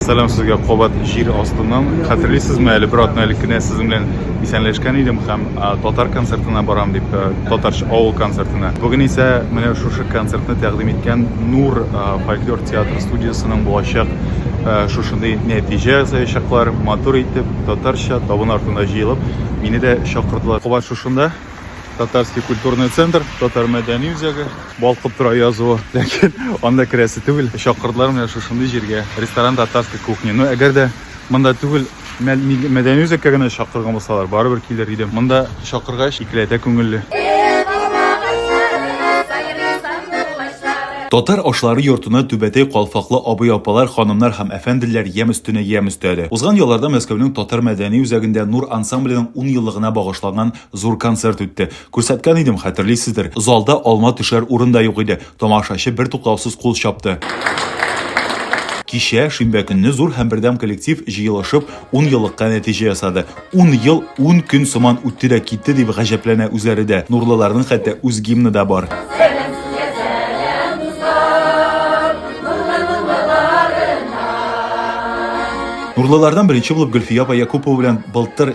Сәлам сезгә кабат җир астыннан. Хәтерлисезме, әле бер атна элек кенә сезнең белән исәнләшкән идем һәм татар концертына барам дип, татарча авыл концертына. Бүген исә менә шушы концертны тәкъдим иткән Нур фольклор театр студиясенең булачак шушындый нәтиҗә ясаячаклар. Матур итеп, татарча табын артында җыелып, мине дә чакырдылар. Кабат шушында татарский культурный центр татар мәдәни үзәге балкып тора язуы ләкин анда керәсе түгел чакырдылар менә шушындый җиргә ресторан татарской кухни но әгәр дә монда түгел мәдәни үзәккә генә чакырган булсалар барыбер килер идем монда чакыргач икеләтә күңелле Татар ашлары йортына түбәтәй калфаклы абый-апалар, ханымнар һәм әфәнделәр ямь өстенә ямь өстәде. Узган елларда Мәскәүнең татар мәдәни үзәгендә Нур ансамбленең 10 еллыгына багышланган Зур концерт үтте. Күрсәткән идем, хәтерлисездер. Залда алма төшәр урын да юк иде. Тамашачы бертуктаусыз кул чапты. Кичә, шимбә көнне зур һәм бердәм коллектив җыелышып, ун еллыкка нәтиҗә ясады. Ун ел ун көн сыман үтте дә китте, дип гаҗәпләнә үзләре дә. Нурлыларның хәтта үз гимны да бар. Нурлылардан беренче булып Гөлфия апа Якупова белән былтыр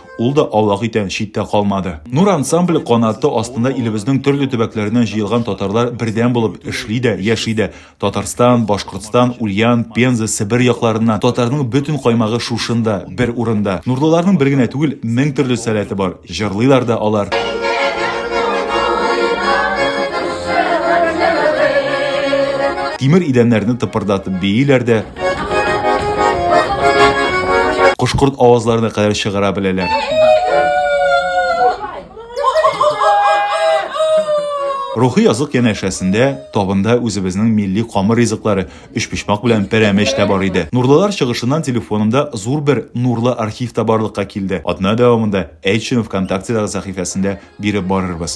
Ул да Аллаһ итән читтә калмады. Нур ансамбль канаты астында илебезнең төрле төбәкләреннән җыелган татарлар бердәм булып эшли дә, яши дә. Татарстан, Башкортстан, Ульян, Пенза, Себер якларыннан татарның бөтен каймагы шушында, бер урында. Нурлыларның бер генә түгел, мең төрле сәләте бар. Җырлыйлар да алар. Тимер идәннәрне тыпырдатып бииләр дә. Кош-корт авазларына кадәр чыгара беләләр. Рухи язык янәшәсендә табында үзебезнең милли камыр ризыклары, өчпочмак белән пәрәмәч тә бар иде. Нурлылар чыгышыннан телефонымда зур бер нурлы архив та барлыкка килде. Атна дәвамында әйтчене ВКонтактедагы сәхифәсендә биреп барырбыз.